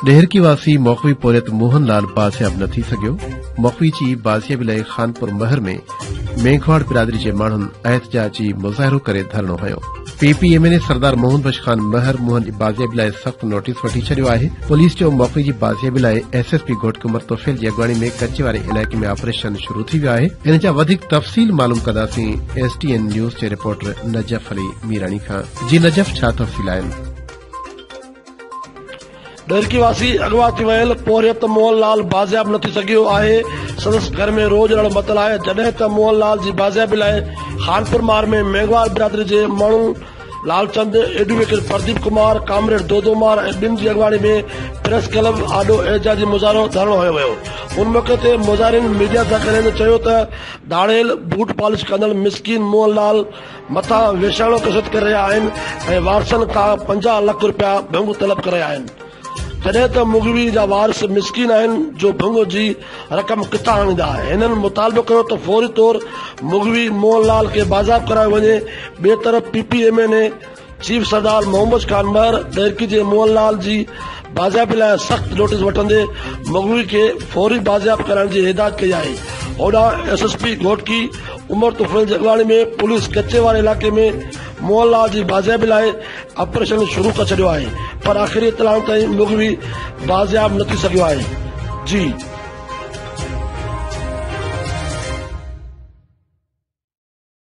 ڏهرڪي واسي مخوي پورهيت موهن لال بازياب نه ٿي سگهيو مخوي جي بازيابي لاء خانپور مهر ۾ ميگهواڙ برادري جي ماڻهن احتجاجي مظاهرو ڪري ڌرڻو هنيو P P M N A سردار موهن بخش خان مهر موهن جي بازيابي لاء سخت نوٽيس وٺي ڇڏيو آهي پوليس چيو موقعي جي بازيابي لاء ايس ايس پي گهوٽ قمر توفيل جي اڳواڻي ۾ ڪچي واري علائقي ۾ آپريشن شروع ٿي ويو آهي ان جا وڌيڪ تفصيل معلوم ڪنداسين ايس ٽي اين نيوز جي رپورٽر نجف علي ميراڻي کان جي نجف ڇا تفصيل آهن ڏهرڪي واسي اغوا ٿي ويل پورهيت موهن لال بازياب نه ٿي سگهيو آهي، سندس گهر ۾ روڄ رڙ متل آهي، جڏهن ته موهن لال جي بازيابي لاء خانپور مار ۾ مينگهوار برادري جي ماڻهن لالچند، ايڊووڪيٽ پرديپ ڪمار، ڪامريڊ دودو مار ۽ ٻين جي اڳواڻي ۾ پريس ڪلب آڏو احتجاجي مظاهرو ڌرڻو هنيو ويو، ان موقعي تي مظاهرين ميڊيا سان ڳالهائيندي چيو ته ڌاڙيل، بوٽ پالش ڪندڙ مسڪين موهن لال مٿان ويشاڻو ڪشت ڪري رهيا آهن ۽ وارثن کان پنجاهه لک رپيا ڀنگ طلب ڪري رهيا آهن جڏهن ته مغوي جا وارث مسڪين آهن جو ڀنگ جي رقم ڪٿان آڻيندا هنن مطالبو ڪيو ته فوري طور مغوي موهن لال کي بازياب ڪرايو وڃي ٻئي طرف P P M N A chief سردار محمد خان مهر ديرڪي جي موهن لال جي بازيابي لاء سخت نوٽيس وٺندي مغوي کي فوري بازياب ڪرائڻ جي هدايت ڪئي آهي هوڏانهن S S P Ghotki Umar Tufail جي اڳواڻي ۾ پوليس ڪچي واري علائقي ۾ موهن لال جي بازيابي لاء آپريشن شروع ڪري ڇڏيو آهي پر آخري اطلاعن تائين مغوي بازياب نه ٿي سگهيو آهي جي